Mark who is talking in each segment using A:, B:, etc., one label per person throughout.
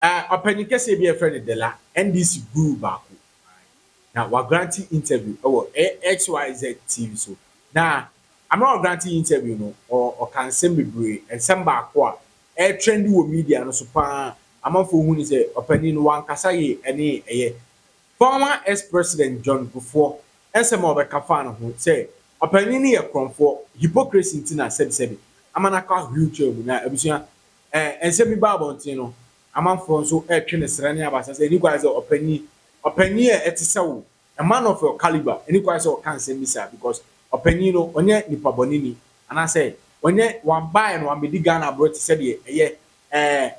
A: Ɔpanyin kɛseɛ bi a yɛfrɛ no Dela, NDC guru baako, na wagrante interview wɔ XYZ TV so, na mmerɛ a ɔgrante interview no, ɔka nsɛm bebree, nsɛm baako a ɛretrendi wɔ media no so pa ara, amanfoɔ hu no sɛ ɔpanyin no wankasa yie, ɛne ɛyɛ former ex-president John Kufuor nsɛm a ɔbɛka faa ne ho sɛ ɔpanyin no yɛ korɔmfoɔ, hypocrisy nti na sɛbisɛbi ama no akɔ wheelchair mu, na abusua Ɛɛ, nsɛm bi ba abɔnten no, amanfoɔ nso retwe no srɛ ne abasa sɛ, Ɛnni kwan sɛ ɔpanyin, ɔpanyin a ɛte sɛ wo, a man of your caliber, ɛnni kwan sɛ ɔka nsɛm bi saa because ɔpanyin no, ɔnyɛ nipa bɔneni, anaasɛ ɔnyɛ, wambaeɛ no wammɛdi Ghana aborɔ te sɛ deɛ ɛyɛ, ɛɛ,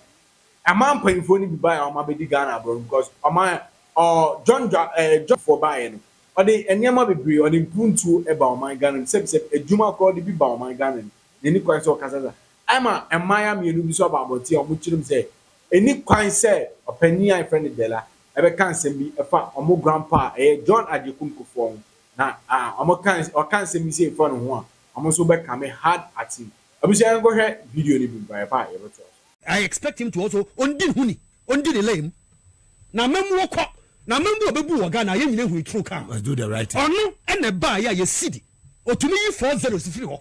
A: aman mpanyinfoɔ no bi baeɛ a wɔabɛdi Ghana aborɔ no because ɔman, ɔ, John Dwa, ɛɛ, John foɔ baeɛ no, ɔde nneɛma bebree, ɔde mpuntuo ba ɔman Ghana mu, sɛbisɛbi, adwuma koraa ɔde bi ba ɔman Ghana mu, na ɛnni kwan sɛ ɔkasa saa. Ɛma mmayewa mmienu bi nso aba abɔnten a wɔkyerɛm sɛ ɛnni kwan sɛ ɔpanyin a yɛfrɛ no Dela bɛka nsɛm bi fa wɔn grandpa a ɛyɛ John Agyekum Kufuor ho, na wɔka ɔka nsɛm bi sei fa ne ho a, wɔn nso bɛkame hard action. Abusua yɛnkɔhwɛ video no bi mfa yɛba a yɛbɛtoa so. I expect him to
B: also ondi ne ho ni, ondi ne lane mu. N'amammuo kɔ, n'amammuo a ɔbɛbu wɔ Ghana, yɛn nyinaa hui true car. Ɔno
C: na ɛbaeɛ a
B: yɛsidi, ɔtumi yi four zeros firi hɔ.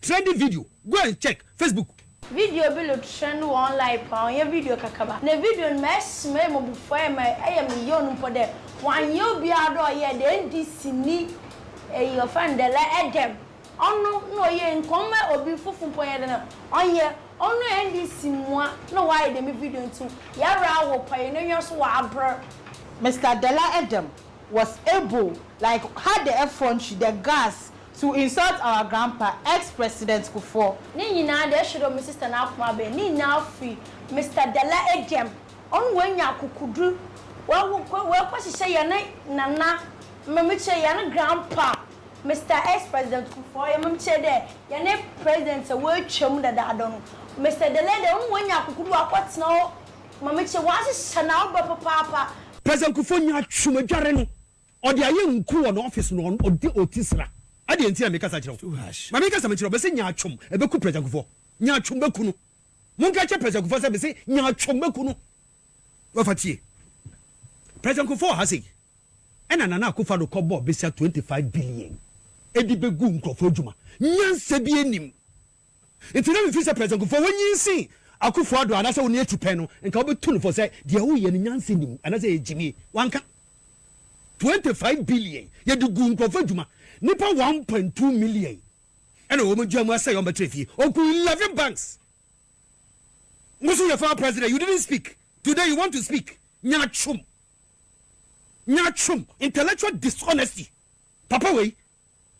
B: Trending video, Go and check Facebook. Video bi lo
D: trend wɔ online paa, ɔnnyɛ video kakraba. Na video no ma ɛsmɛɛ mmɔbufuaɛ ma ɛyɛ me yaw no mpo dɛ wɔannyɛ obiara dɛ ɔyɛɛ dɛ NDC ni eyi wɔfrɛ no dɛ lɛ ɛdɛm ɔno na ɔyɛɛ nka ɔmma obi foforo mpo nyɛ dɛn a ɔnyɛ ɔno NDC mua na wɔayɛ dɛm video nti yɛwrɛ awo pa yɛn anwa so wɔ abr Mister Dela
E: Edem was able like had the effrontery, the gas, To insult our grandpa, ex president kufour. Ne nyinaa deɛ ɛhyɛ
D: dɛ ɔmo sister no akoma bɛn ne nyinaa firi Mister Dala dɛm ɔno wanya akokodur wawo wakɔ hyehyɛ yɛne Nana mame kyerɛ yɛne grandpa Mister ex president kufour yɛ mame kyerɛ dɛ yɛne president a watwam dadaada no Mister Dala deɛ ɔno wanya akokodur wakɔ tena hɔ mame kyerɛ wahyehyɛ n'awobrɛ papaapa. President Kufuor nyaa
B: twom adware no. Ɔde ayɛ nku wɔ n'ɔfis na ɔde ɔti sra. Adeɛ nti na mekasa kyerɛ wo. Ma menka asɛm nkyerɛ wo, mese nyaatwom ɛbɛku President Kufuor. Nyaatwom bɛku no. Monka nkyerɛ President Kufuor sɛ mese nyaatwom bɛku no. Wafa tie. President Kufuor ha sei, ɛna Nana Akufo-Addo kɔbɔɔ bɛsia 25 billion ɛde bɛgu nkurɔfoɔ adwuma. Nyansa biara nnim. Nti na mefili sɛ President Kufuor wanyin sen Akuffo Addo anaasɛ ɔne atu pɛn no nka wobɛtu no fɔ sɛ deɛ ɔyɛ no nyansa nni mu anaasɛ ɛyɛ gyimie. Wanka. Twenty five billion yɛde guu nkurɔfo adwuma. Nnipa one point two million ɛna wɔn adwuma mu asɛe a wɔbɛtra fie. Ɔguu eleven banks. Wo nso yɛ former President you didn't speak today you want to speak nyaatwom nyaatwom intellectual dishonesty papa wei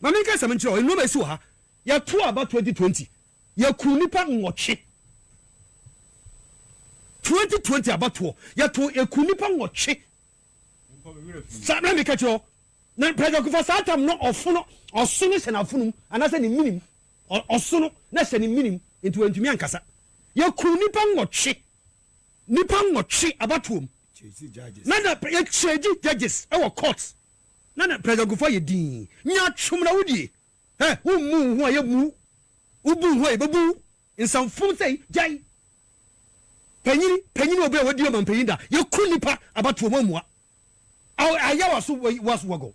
B: Ma menka asɛm nkyerɛ wo, nnoɔma a ɛsi wɔ ha, yɛtoo aba 2020, yɛkuu nnipa nwɔtwe. 2020 abatoɔ, yɛtoo, yɛkuu nnipa nwɔtwe. Saa, na meka kyerɛ wo, na President Kufa saa tam no ɔfono, ɔso no hyɛ n'afonom, anaasɛ ne menim, ɔso no na hyɛ ne menim, nti wantumi ankasa. Yɛkuu nnipa nwɔtwe, nnipa nwɔtwe abatoɔ mu, na na yɛkyɛgyi judges wɔ court. Na na Prɛsɛgufo ayɛ dinn. Nyaatwom na wodie. Hɛ! Wommu wo ho a, yɛbmu wo. Wobu wo ho a, yɛbɛbu wo. Nsamfom sɛi, gyae. Panyini, panyini obi a wadi ɔmampanyin da, yɛku nnipa abatoɔ mu ammua. Aw, ayɛ w'aso wei, w'aso wagɔ.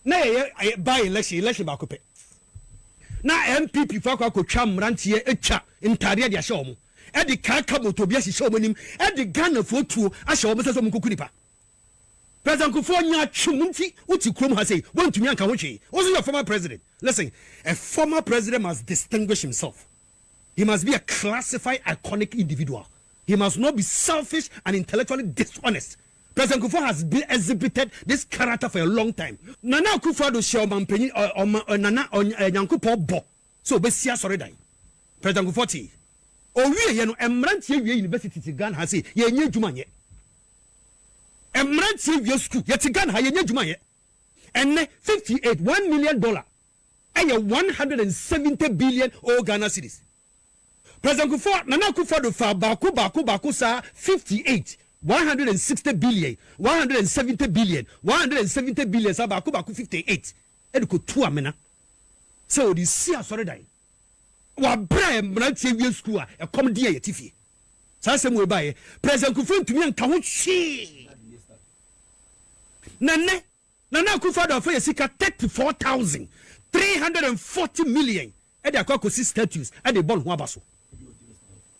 B: Na yɛyɛ by election, election baako pɛ. Na NPP fo akɔ akɔtwa mmeranteɛ atwa ntadeɛ de ahyɛ wɔn, de kaa kabot obi ahyehyɛ wɔn anim, de Ghanafoɔ tuo ahyɛ wɔn nsa sɛ wɔnkɔku nnipa. President Kufuor nyaa twom nti wote kurom ha sei woantumi anka ho hwee wo nso yɛ former president listen a former president must distinguish himself he must be a classified iconic individual he must not be selfish and intellectually dishonest President Kufuor has been exhibited this character for a long time Nana Akufo-Addo hyɛɛ ɔmampanyin ɔ ɔma ɔ Nana ɔ ɔ Nyankopɔn bɔ sɛ ɔbɛsi asɔredan President Kufuor tee ɔwieɛ no mmeranteɛ wie universities Ghana ha sei yɛnnya adwuma nyɛ Mmranteɛ wia sukuu yɛte Ghana ha yɛnya adwuma yɛ ɛnɛ fifty eight one million dollar ɛyɛ one hundred and seventy billion oo Ghana cedis President Kufuor Nana Akufo Addo faa baako baako baako saa fifty eight one hundred and sixty billion one hundred and seventy billion one hundred and seventy billion saa baako baako fifty eight ɛde kɔ tu amena sɛ ɔde si asɔredan. Wɔ bere a mmeranteɛ awie sukuu a ɛkɔm de yɛn a yɛte fie saa asɛm wei baeɛ, President Kufuor ntumi anka ho hwee. Na nnɛ, Nana Akufo-Addo afa yɛn sika thirty four thousand three hundred and forty million de akɔ akɔsi statues de rebɔ ne ho aba so.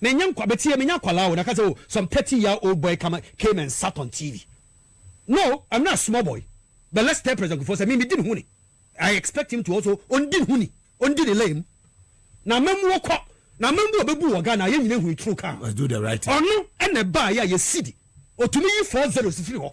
B: Menya nkwa but yɛ menya akwadaa o na ka sɛ oh some thirty year old boy come came and sat on TV no I'm not a small boy but let's tell President Kufuor sɛ me me di ne ho ni I expect him to also ɔndi ne ho ni ɔndi ne lane mu na amammuo kɔ na amammuo a ɔbɛbu wɔ Ghana yɛn nyina hui true car ɔno
C: ɛna ɛbaeɛ a
B: yɛsidi ɔtumi yi four zeros firi hɔ.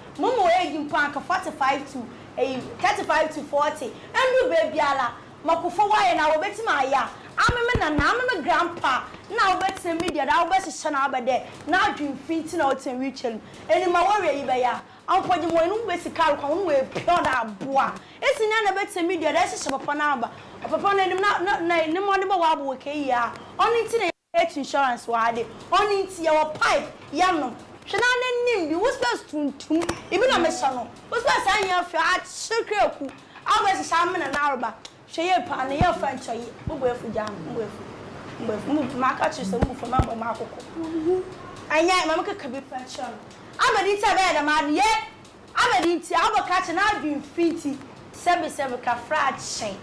D: Mo mu eyi mpo anka forty five to eyi thirty five to forty ndu beebiara. Mɔkofo wɔayɛ no a wobetumi ayɛ a, ame me nana, ame me grandpa na wobetsena media do a wobɛhyehyɛ no abɛ dɛ n'adwen fi ntsi na ɔtsena wheel chair no mu. Emi ma wɔwe eyi bɛyɛ a, ampɔgye mowɔ no wobesi kaar kwan ho no woepia do aboa. Esi ndɛ na ebetsena media do a ehyehyɛ papa n'aba. Papa no enyim na na na ne mbɔdze bɔ w'abow kɛyie a, ɔno ntsi na. Health insurance wɔ ha de, ɔno nti yɛwɔ pipe yɛnom. Hwɛ na n'anim bi, wo spɛs tuntum, ebi na mehyɛ no, wo spɛs a nyɛ fɛ, akyere kaaku, abɔ ɛhyehyɛ amena na aroba, hwɛ yɛ paa na yɛ fa nkyɛ yi, mo bo afu gyaa me, mo bo afu, mo bo afu, mo bu, maka kyere sɛ mo bu fɔ me abɔ mo akoko, ɛnyɛ, ma me keka bi pɛ nkyerɛ no, adɛn nti a ɛbɛyɛ dɛm ade, yɛ. Abɛde nti a wobɛka akyɛ n'adwen fi nti sɛbesɛbe kafra akyɛ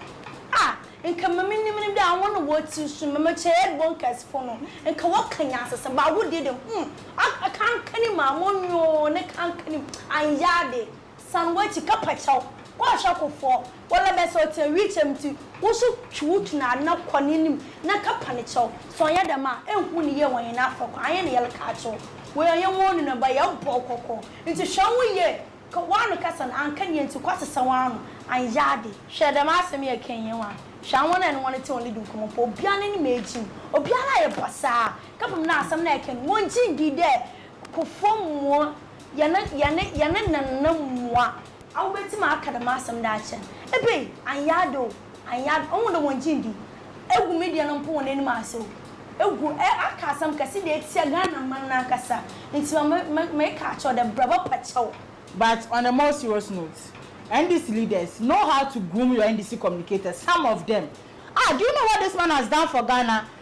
D: a nka ma me nim no dɛ awo no wɔ tiri so ma me kyɛ yɛ bɔ nkɛse fo no nka wɔ ka nyansasɛm ba awo deɛ dɛ hum a kankanim a mo nyoo ne kankanim anyɛ ade san wɔ akyi ka pakyɛw kɔ ahwɛ ko foɔ wɔ lɛ bɛsɛ ɔtena wii kyɛm ti wo so twe wo tu na na kɔ ne nim na ka pa ne kyɛw sɛ ɔnyɛ dɛm a ɛnhu ne yɛ wɔ nyina afɛ kɔ anyɛ ne yɛlɛ ka akyɛ wo wei ɔnyɛ wɔn nuna ba yɛ bɔ kɔkɔ Ntsi hwɛ woho yie, kɔ w'ano kasa no, annka nyia ntsi kɔ asesã w'ano, annyɛ ade. Hwɛ, dɛm asɛm yi a yɛkã yi nnyɛ nwanwa, hwɛ awɔn a eno hɔn tse hɔn ledi nkɔmbɔ mpo, obiara n'enyim m'ekyim, obiara ayɛ basaa, kɛpem dɛ asɛm no a yɛkã yi no, wonngye nndii dɛ Kufuor mmoa yɛn, yɛne, yɛne Nana mmoa. Awobetsim aka dɛm asɛm dɛ akyɛn, ebei, annyɛ ade o. Annyɛ a, ohu dɛ wɔnngye nndi. Egu me deɛ no mpo wɔn anim ase o. Egu ɛ aka asɛm kɛse de atia Ghana man no ankasa. Nti ma me me meka akyerɛ wo dɛ bra bɛ pɛ kyɛw. But on a more
E: serious note, NDC leaders know how to groom your NDC communicators, some of them. Ah, do you know what this man has done for Ghana?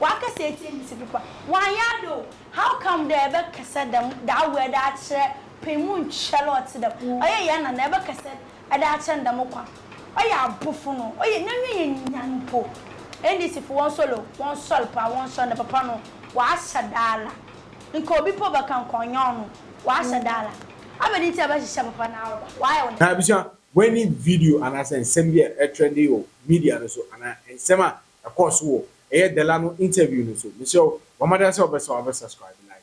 D: Wakɛsɛ etsie mbisa bi koraa. Ɔannyɛ ade o, how come dɛ ebɛkɛsɛ dɛm that word akyerɛ pɛn mu nkyɛr a ɔtse dɛm? Ɔyɛ hɛn nana a ebɛkɛsɛ ede akyerɛ no dɛm kwan. Ɔyɛ abofo no, ɔyɛ n'enyi yɛ nyan mpo. NDC fo wɔnsoɛr o, wɔnsoɛr paa, wɔnsoɛr na papa no ɔahyɛ da ara. Nka obi mpo bɛka nka ɔnnyɛ ɔno, ɔahyɛ da ara. Abɛn ntsi a ebɛhyehyɛ papa no awoba? Ɔayɛ wo dɛn? Ebusua, woenyi
A: video anaasɛ nsɛm bi a ɛtrɛndee wɔ media no so anaa nsɛm a Ɛkɔɔ so wɔ ɛyɛ Dela no interview no so. Mesrɛ wo, bɔ mmɔden ara sɛ wobɛsa wobɛ subscribe like.